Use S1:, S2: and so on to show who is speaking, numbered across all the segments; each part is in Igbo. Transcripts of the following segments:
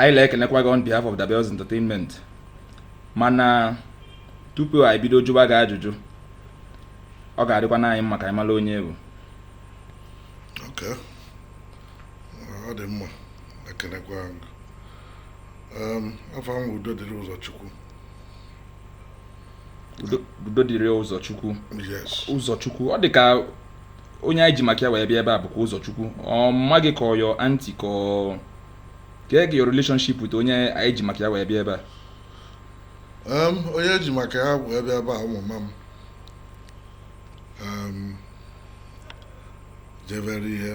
S1: anyị na-ekenekwa gị on behalf of the Bells Entertainment mana tupu anyị bido jụba gị ajụjụ ọ ga-adịkwana anyị mma ka anyị mara onye ị bụ
S2: ọ dị mma ekenekwa afa m wụ Udodịrị Ụzọchukwu
S1: Udodịrị Ụzọchukwu
S2: Ụzọchukwu ọ dị ka
S1: onye anyị ji maka ya wee bịa ebe a bụkwa Ụzọchukwu ọ mama gị ka ọ your auntie ka ọ kee ka your relationship with onye anyị ji maka ya wee bịa ebe a onye
S2: e ji maka ya wee bịa ebe a ọ mama m jebere ihe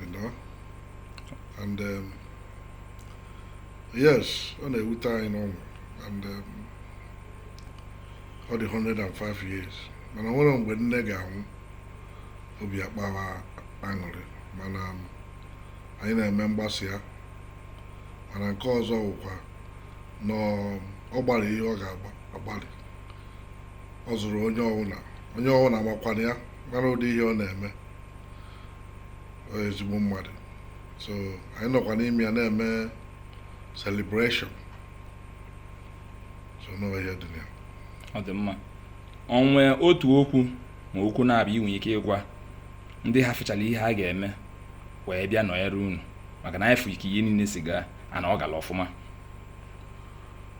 S2: you know and um, yes ọ na-ewute anyị n'ọnwụ and um, ọ dị 105 years mana o nwere mgbe nne ga-anwụ obi akpawa aṅụrị mana um, anyị na-eme mgbasa ya mana nke ọzọ wụkwa na um, ọ gbalịrị ihe ọ ga-agbalị ọ zụrụ onye ọwụna onye ọwụna makwana ya mara ụdị ihe ọ na-eme ọ ezigbo mmadụ so anyị nọkwa n'ime ya na-eme celebration so na ọ ihe dị ya ọ dị mma
S1: o nwe otu okwu ma okwu naabọ i nwe ike ịgwa ndị hafụchara ihe ha ga-eme wee bịa nọnyere unu maka na anyị fụ ka ihe niile si gaa na ọ gara ọfụma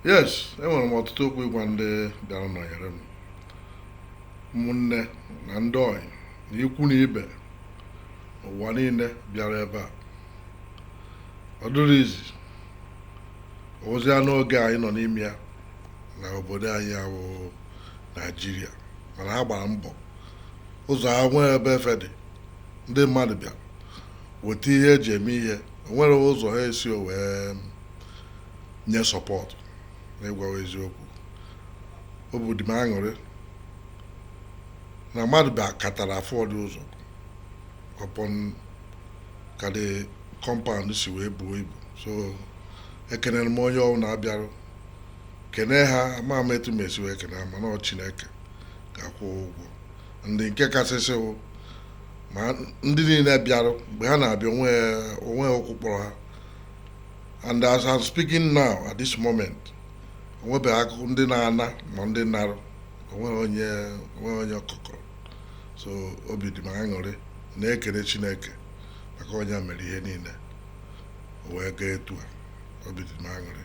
S1: yes
S2: enwere m ọtụtụ okwu ịgwa ndị bịara nọnyere m ụmụnne na ndị ọyị na ikwu na ibe ụwa niile bịara ebe a ọ dịrọ easy easy n'oge anyị nọ n'ime ya na obodo anyị a wụ naijiria mana ha gbara mbọ ụzọ ha nwee ebe efe dị ndị mmadụ bịa weta ihe e ji eme ihe o nwere ụzọ ha esi wee nye support n'ịgwawa eziokwu obi dị m aṅụrị na mmadụ bịakatara afọdị ụzọ upon ka the compound si wee buo ibu so ekenere m onye ọwụna bịarụ kene ha ama m etu m esi wee kene ha mana ọ chineke ga-akwụ ụgwọ and nke kasịsị wụ na ndị niile bịarụ mgbe ha na-abịa o nwe o nwe ụkwụ kpọrọ ha and as I'm speaking now at this moment o nwebeghị akụkọ ndị na-ana ma ndị narụ o nweghị onye o nweghị onye ụkwụ kpọrọ so obi dị m aṅụrị na-ekele chineke maka ọ ya mere ihe niile o wee gaa etu a obi dị m aṅụrị